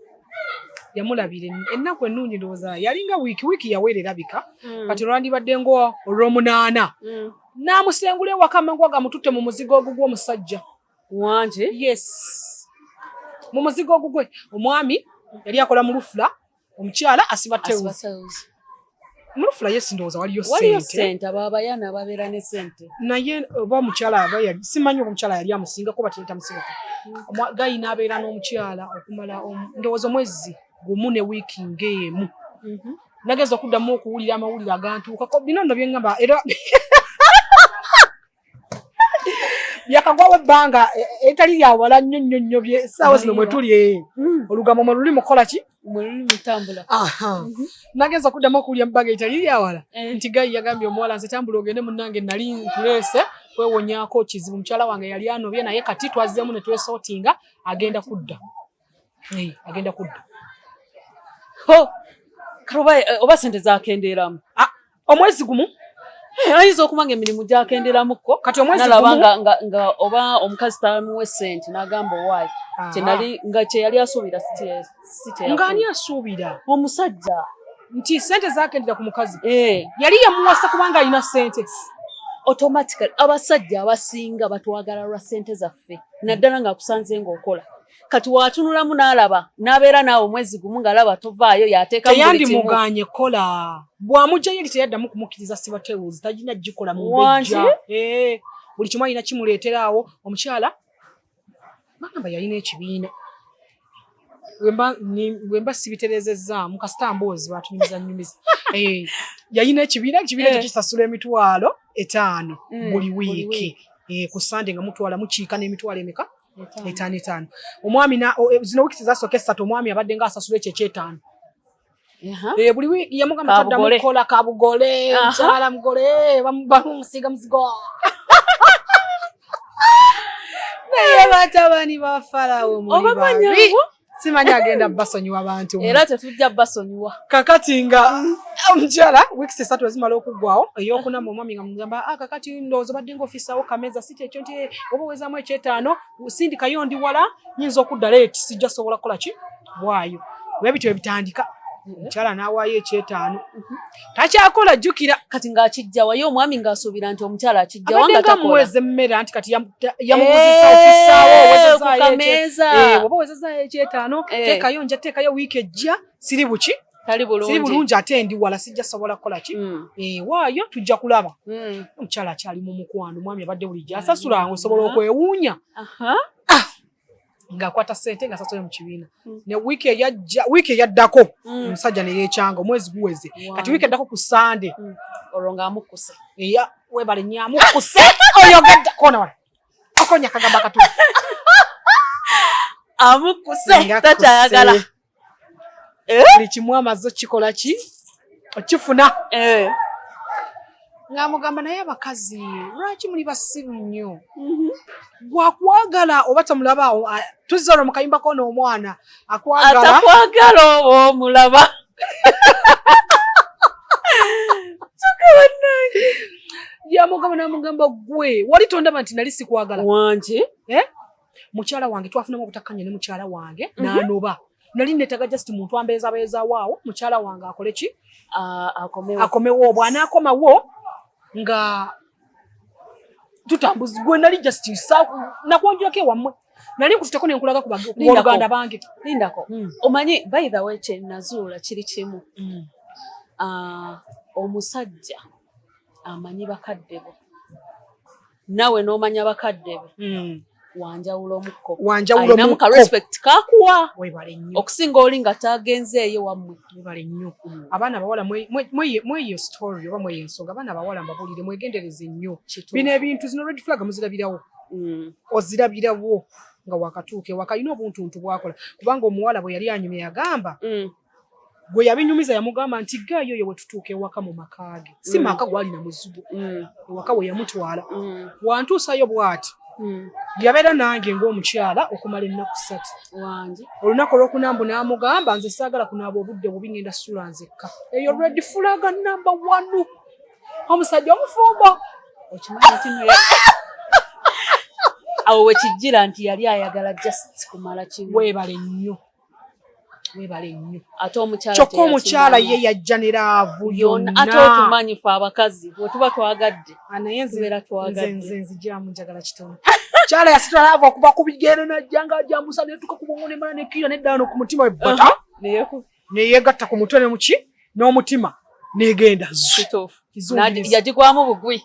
yamulabira ennaku ennungi ndowooza yalinga wiiki wiiki yaweera erabika hmm. kati olwandibadde nga olwomunaana hmm. n'amusengula ewaka amangu agamututte mu muzigo ogugwe omusajja wangi yes mu muzigo ogugwe omwami yali akola mu lufula omukyala asiba tewuzi mulufula ye sindowooza waliyo sente ababayana ababeera ne sente naye oba omukyala aba simanyi oba omukyala yali amusingako batetamusibuka hmm. gayi n'abeera n'omukyala okumala ndowooza omwezi gumu ne wiiki ng'emu mhm. nageza okuddamu okuwulira amawulire agantuukako bino nno bye ŋŋamba era yakagwawo ebbanga e, e, etali lyawala nnyo nnyo nnyo essaawa zino mwetuli e, mm. olugambo mwe luli mukukola ki mm-hmm. nagenza okuddamu okuwulya mubbanga etali lyawala eh. nti gayi yagambye omuwala nze tambula ogende munnange nali nkuleese kwewonyako kizibu mukyala wange yali anobye naye kati twazzeemu ne twesotinga agenda kudda Hey, agenda kudda. Oh, karuba eh, oba sente zakendeeramu. Ah, omwezi gumu eh, ayinza okuba nga emirimu gyakendeeramuko kati omwezi gumu nga, nga, nga oba omukazi tamuwe sente n'agamba owaayi kyenali nga kye yali asuubira ng'ani asuubira omusajja nti sente zakendera ku mukazi eh. yali yamuwasa kubanga alina sente automatically abasajja abasinga batwagala lwa sente zaffe naddala ng'akusanze ng'okola kati watunulamu n'alaba n'abeera naawe omwezi gumu ng'alaba tovaayo yateekayandimuganye kola bw'amugyayo eri teyaddamu kumukkiriza sibatewuzi tagina gikola mubejja eh, buli kimu alina kimuleeteraawo omukyala bagamba yalina ekibiina wemba sibiterezezzaamu kasita mboozi batunyumiza nyumiza eh, yalina ekibiina ekibiina ekyo eh. kisasula emitwalo etaano mm, buli wiiki ku sande nga mutwala mukiika n'emitwalo emeka etaano etaano omwami eh, zino wiiki zazooka essatu omwami abadde nga asasula ekyo ekyetaano eh, buli wiiki yamugamba taddamu kukola kabugole mukyala mugole eh, bamusiiga muzigo naye batabani ba falawo muli babi simanyi agenda basonyiwa bantu era tetujja basonyiwa kakati nga omukyala weeks esatu ezimala okuggwawo eyokuna mu omwami nga mugamba ah, kakati ndowooza obadde nga ofisawo kameza si kyekyo nti eh, oba owezamu ekyetaano sindikayo ndi wala nyinza okudda leeti sijja sobola kukola ki waayo webityo ebitandika omukyala n'awaayo ekyetaano takyakola jjukira kati ng'akijjawa ye omwami ng'asuubira nti omukyala akijjawa nga takolaamuweza emmere anti kati yamuguzisa ofisaawo owezezayokameeza oba owezezaayo ekyetaano teekayo nja teekayo wiiki ejja siri buki tali bulungi ate ndi wala sijja sobola kukola ki hmm. eh, waayo tujja kulaba hmm. omukyala akyali mu mukwano mwami abadde bulijjo asasula hmm. osobola okwewuunya ng'akwata sente nga sasole mu kibiina mm. ne wiiki eyajja wiiki eyaddako mm. omusajja ne yeekyanga omwezi guweze kati wiiki eddako ku sande mm. olwo ng'amukkuse eya webale nyo amukkuse oyogedde kona wala okonya kagamba katu amukkuse takyayagala eh? buli kimu amaze okikola ki okifuna eh. ng'amugamba naye abakazi lwaki muli basiru nnyo mhm. gwakwagala oba tamulabaawo tuzza olwo mu kayimba kona omwana akwagalaatakwagala oba omulaba yamugamba namugamba gwe wali tondaba nti nali sikwagala wangi eh? mukyala wange twafunamu obutakkanya ne mukyala wange mhm. n'anoba mm -hmm. nali netaga just muntu ambeeza beeza waawo mukyala wange akole ki akomewo bwanaakomawo nga tutambuzi gwe nali just nakwonjulako ewammwe nali nkututeko nenkulaga kubaoluganda bange lindako hmm. omanyi by the way kyenazuula kiri kimu hmm. ah, omusajja amanyi bakadde bo nawe n'omanya bakadde be hmm. wanjawula omukko alinamu ka respect kakuwa okusinga oli nga tagenzeeyo wammwe webale nnyo hmm. abaana abawala mweyo story oba mweyo ensonga abaana abawala mbabuulire mwegendereze nnyo bino ebintu zino red flag muzirabirawo hmm. ozirabirawo nga wakatuuka ewaka alina obuntuntu bwakola kubanga omuwala bwe yali anyumye yagamba gwe yabinyumiza yamugamba nti gaayo oyo wetutuuka ewaka mu maka ge si mm. maka gwalina muzigo mm. ewaka we yamutwala mm. wantuusayo bwati yabeera nange ng'omukyala okumala ennaku ssatu wange olunaku olwokunambu n'amugamba nze saagala kunaaba obudde bubi ngenda sula nzekka eyo redi fulaga namba wanu omusajja omufumbo okimanyi kino awo wekijjira nti yali ayagala just kumala kimu webale nnyo kyokka omukyala ye yajja ne laavu yonaate otumanyi fe abakazi bwetuba twagadde ah, nayenziberatwagaddenzijamu njagala kitono kyala yasitula laavu okuva ku bigere najja nga ajambusa netuka ku bwongo nemala nekiira neddaano ku mutima webbata uh-huh. neyegatta ku mutwe ne muki n'omutima negenda yagigwamu bugwi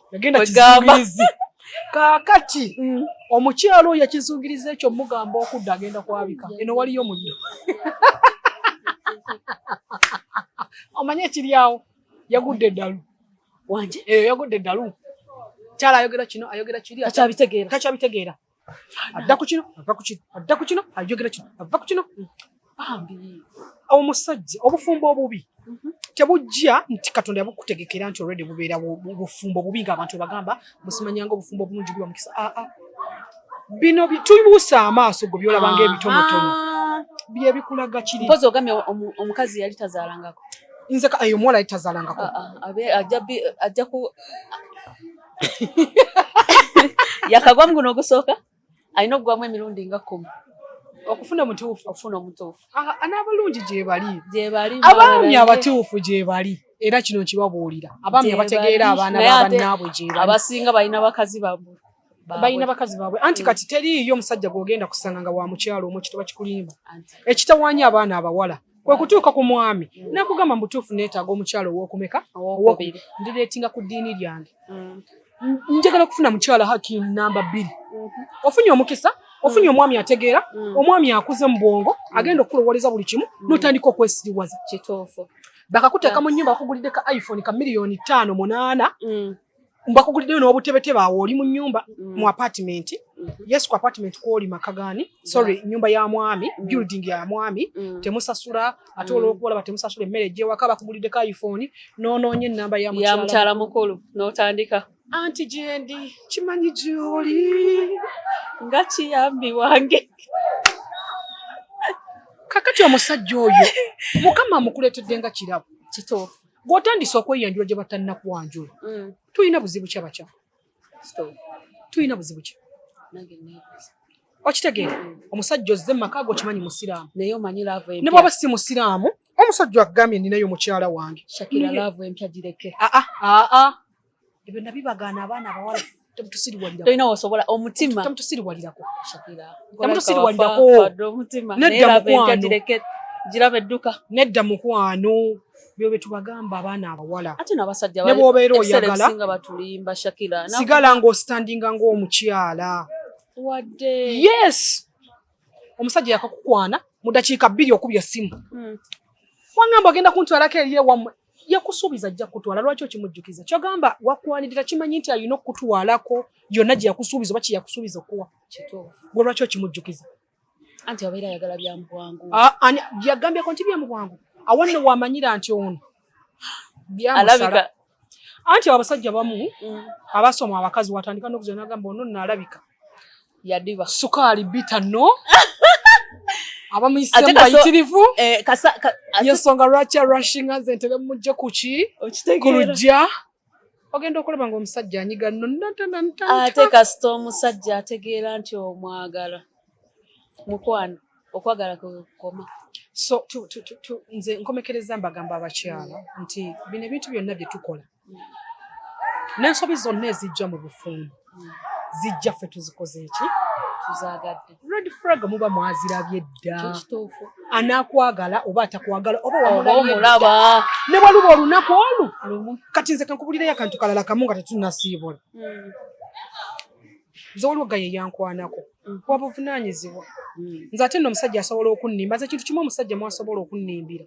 kakati mm. omukyalo oyo yakizungiriza ekyo mugamba okudda agenda kwabika eno waliyo muddo omanye ekiri awo yagudde eddalu wanje eyo eh, yagudde eddalu kyala ayogera kino ayogera kiri takyabitegeera adda ku kino ava ku kino adda ku kino ayogera kino ava ku kino bambi omusajja obufumbo obubi mhm. tebujja nti katonda yabukutegekera nti olwedde bubeera bufumbo bubi ngaabantu bagamba musimanyanga obufumbo obulungi guba mukisa aa ah, ah. bino tubuusa amaaso gwe byolabanga ebitonotono ah. byebikulaga kiri mpozi ogambye omukazi yali tazaalangako nze eyo omuwala yali tazaalangako ajja ku yakagwa mu guno ogusooka alina okugwamu emirundi nga kkumi okufuna omutuufu okufuna omutuufu n'abalungi gyebali gyebali abaami abatuufu gyebali era kino nkibabuulira abaami abategeera abaana babannaabwe gyebali abasinga balina bakazi babwe balina bakazi baabwe anti kati teriiyo omusajja gwogenda kusanga nga wa mukyalo omu kituba kikulimba ekitawaanya abaana abawala kwe kutuuka ku mwami nakugamba mu butuufu neetaaga omukyala ow'okumeka owokubiri ndireetinga ku ddiini lyange mm. njagala okufuna mukyala hakim namba bbiri mm-hmm. ofunye omukisa ofunye omwami ategeera mm. omwami akuze mu bwongo mm. agenda okukulowoleza buli kimu n'otandika okwesiriwaza kituufu bakakuteeka mu nyumba bakugulidde ka iphone ka miliyoni ttaano munaana mbakuguliddeyo n'obutebetebe awo oli mu nyumba mm. mu apartment mm-hmm. yes ku apartment kwoli maka gani sorry nyumba ya mwami mm. building ya mwami mm. temusasula ate olwokuba olaba temusasula emmere gyewaka bakuguliddeko iphone nonoonye enamba ya mukyala mukulu n'otandika anti gyendi kimanyi gyoli nga kiyambi wange kakati omusajja oyo mukama amukuleetedde nga kirabo kituufu gwotandise okweyanjula gye batannakwanjula mm. tulina buzibu ki abakya tulina buzibu ki okitegeera mm. omusajja ozze mu maka go kimanyi musiraamu ne bwaba si musiraamu omusajja agambye ninayo mukyala wange aa ebyo nabibagaana abaana abawala temutusiriwaliratoyina wosobola omutima temutusiriwalirako shakira temutusiriwalirako nedda mukwano girabe edduka nedda mukwano byo byetubagamba abaana abawala ate nabasajja nebwobeera oyagala batulimba shakira sigala ng'ositandinga ng'omukyala wadde yes omusajja yakakukwana mu dakiika bbiri okubya essimu hmm. wangamba agenda kuntwalako eri ewammwe yakusuubiza ajja kutwala lwaki okimujjukiza kyogamba wakwanirira kimanyi nti alina okukutwalako yonna gye yakusuubiza oba kyeyakusuubiza okuwa gwe lwaki okimujjukiza anti abeera ayagala byamubwangu ah, yagambyeko nti byamubwangu awanno wamanyira nti ono byamusala anti abasajja bamu mm. abasoma abakazi watandika nokuzanagamba ono nalabika yadiba sukaali bita no abamuyise mubayitirivu eh, yensonga lwaki arushinga nze ntebe mumujje kuki ku lujja ogenda okulaba nga omusajja anyiga noate kasita omusajja ategeera nti omwagala mukwano okwagala kwekukoma so nze nkomekereza mbagamba abakyala nti bino ebintu byonna byetukola n'ensobi zonna ezijja mu bufumbo zijja ffe tuzikoze eki tuzagadde red frag muba mwazirabye dda kituufu anakwagala oba atakwagala oba wamulaba ne waluba olunaku olu kati nze kankubulireyo akantu kalala kamu nga tetunasiibula hmm. nze waliwo gaye eyankwanako hmm. wa buvunanyizibwa hmm. nze ate nno omusajja asobola okunnimba nze ekintu kimu omusajja mwasobola okunnimbira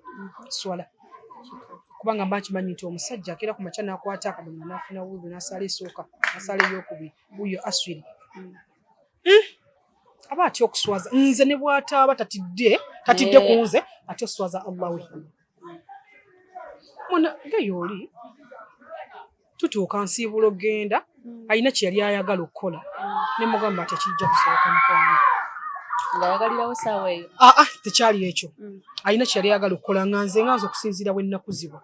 swala kubanga mba nkimanyi nti omusajja akeera ku makya n'akwata akadomola n'afuna wudu n'asaala esooka asaala eyokubiri wuyo aswiri hmm. Hmm. aba atya okuswaza nze ne bwataaba tatidde tatidde ku nze ate oswaza allah we mwana geyooli tutuuka nsiibulo genda mm. alina kyeyali ayagala okukola mm. nemugamba tekijja kusoboka mukwano ngaayagalirawo saawa eyo aa ah, ah, tekyali ekyo mm. alina kyeyali ayagala okukola nga nze nga nze okusinziira bwennakuzibwa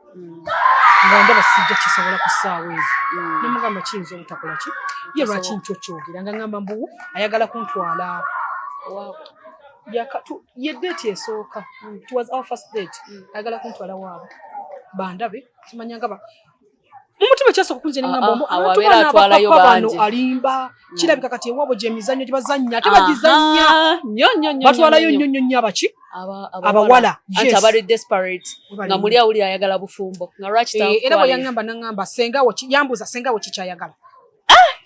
nga ndaba sijja kisobola ku saawa ezo nemugamba kiyinza obutakola ki ye lwaki nkyo kyogera nga ngamba mbu ayagala kuntwala ye date esooka it was our first date ayagala kuntwala waabwe bandabe kimanyanga mumutima kyasooka okunze nengamba ah, ah, ah, abantubana abapapa bano alimba mm. kirabika kati ewabo gyemizannyo gyebazannya ate bagizannya batwalayo nnyo nnyo nnyo abaki abawala nga muli awulira ayagala bufumbo nga lwaki eh, era bweyangamba nangamba sengawo yambuuza sengawo kikyayagala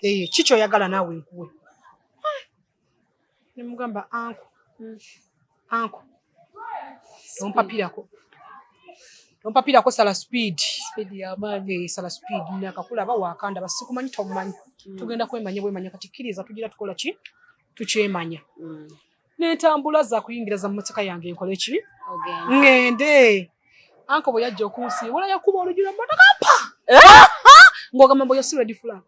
eh, kikyoyagala naawe nkuwe nemugamba anko mm. anko tompapirako tompapirako sala speed eh, sala speed nakakulaba wakanda basikumanyi tomumanyi mm. tugenda kwemanya bwemanya kati kkiriza tugira tukola ki tukyemanya mm. nentambula zakuyingira za mmotoka yange nkoleki ngende Anko bwe yajja okunsiibula yakuba oluggi lw'emmotoka mpa ng'ogamba mbu oyo si red flag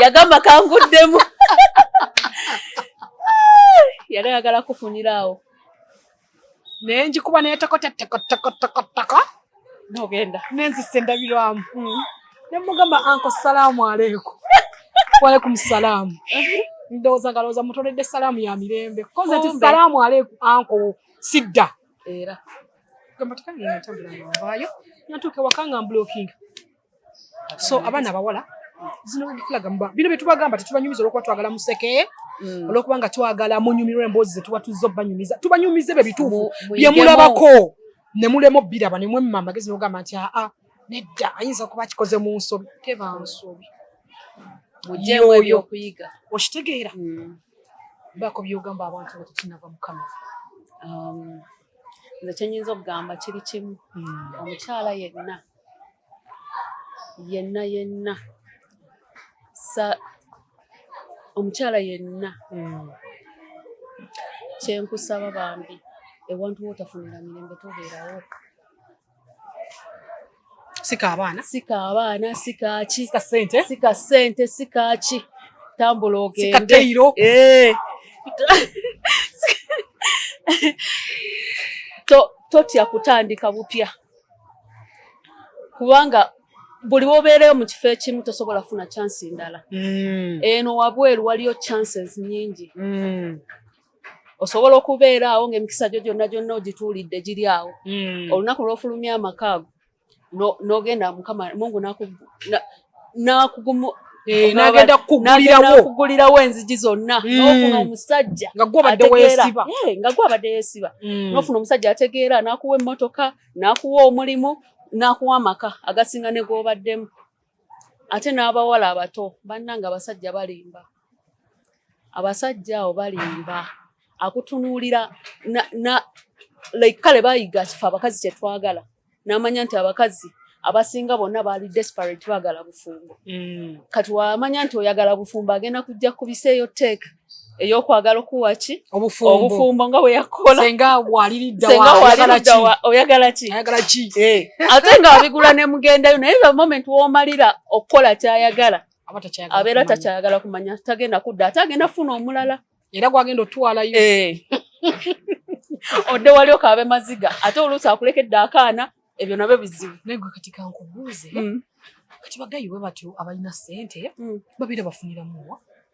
yagamba kanguddemu yali ayagala kufunira awo naye ngikuba naye tokotetekotekotekoteko nogenda nenzisa endabirwamu hmm. nemugamba anko salaamu aleeku walekum salaamu ndowooza nga lowooza mutoledde salaamu ya mirembe koze ti salaamu aleeku anko sidda era gamba tukange nga ntambula nga nvaayo natuuka ewaka nga mbulookinga so abaana abawala zino bagifulaga muba bino bye tubagamba tetubanyumiza olwokuba twagala museke mm. olwokuba nga twagala munyumirwa emboozi zetuba tuzza obanyumiza tubanyumiza ebyo bituufu bye mulabako ne mulema obbiraba ne mwemma amagezi nogamba nti aa nedda ayinza okuba akikoze mu nsobi teba nsobi mujewo ebyokuyiga okitegeera mm. bako byogamba abantu nga tetunava mukama um, nze kyenyinza okugamba kiri kimu mm. omukyala yenna yenna yenna sa omukyala yenna mm. kyenkusaba bambi ewantu wotafunira mirembe tobeerawo sika abaana sika abaana sika ki sika sente sika sente sika ki tambula ogende sika teiro eh to totya kutandika bupya kubanga buli wobeereyo mu kifo ekimu tosobola funa chansi ndala mm. eno wabweru waliyo chances nyingi mm. osobola okubeera awo ng'emikisa gyo gyonna gyonna ogituulidde giri awo hmm. olunaku lw'ofulumya amaka ago n'ogenda mukama mungu nakugumu eh, nagenda kukugulirawo enzigi zonna hmm. nofuna omusajja nga gwabadde yesiba eh, hmm. nofuna omusajja ategeera nakuwa emmotoka nakuwa omulimu nakuwa amaka agasinga negwobaddemu ate n'abawala abato bannanga abasajja balimba abasajja awo balimba akutunuulira like kale bayiga kife abakazi kyetwagala n'amanya nti abakazi abasinga bonna baali desperate bagala bufumbo mm. kati wamanya nti oyagala bufumbo agenda kujja kubiseeyo teeka eyokwagala okuwa ki obufumbo nga bweyakolasenga waliriddaoyagala ki eh. ate nga wabigula nemugendayo naye the moment womalira okukola kyayagala abeera takyayagala kumanya tagenda kudda ate agenda funa omulala era gwagenda otwalayo eh. odde wali okaabe maziga ate oluusi akulekedde akaana ebyo nabyo bizibu naye gwe kati kankubuuze mm. kati bagayiwe batyo abalina sente mm. babeera bafuniramuwa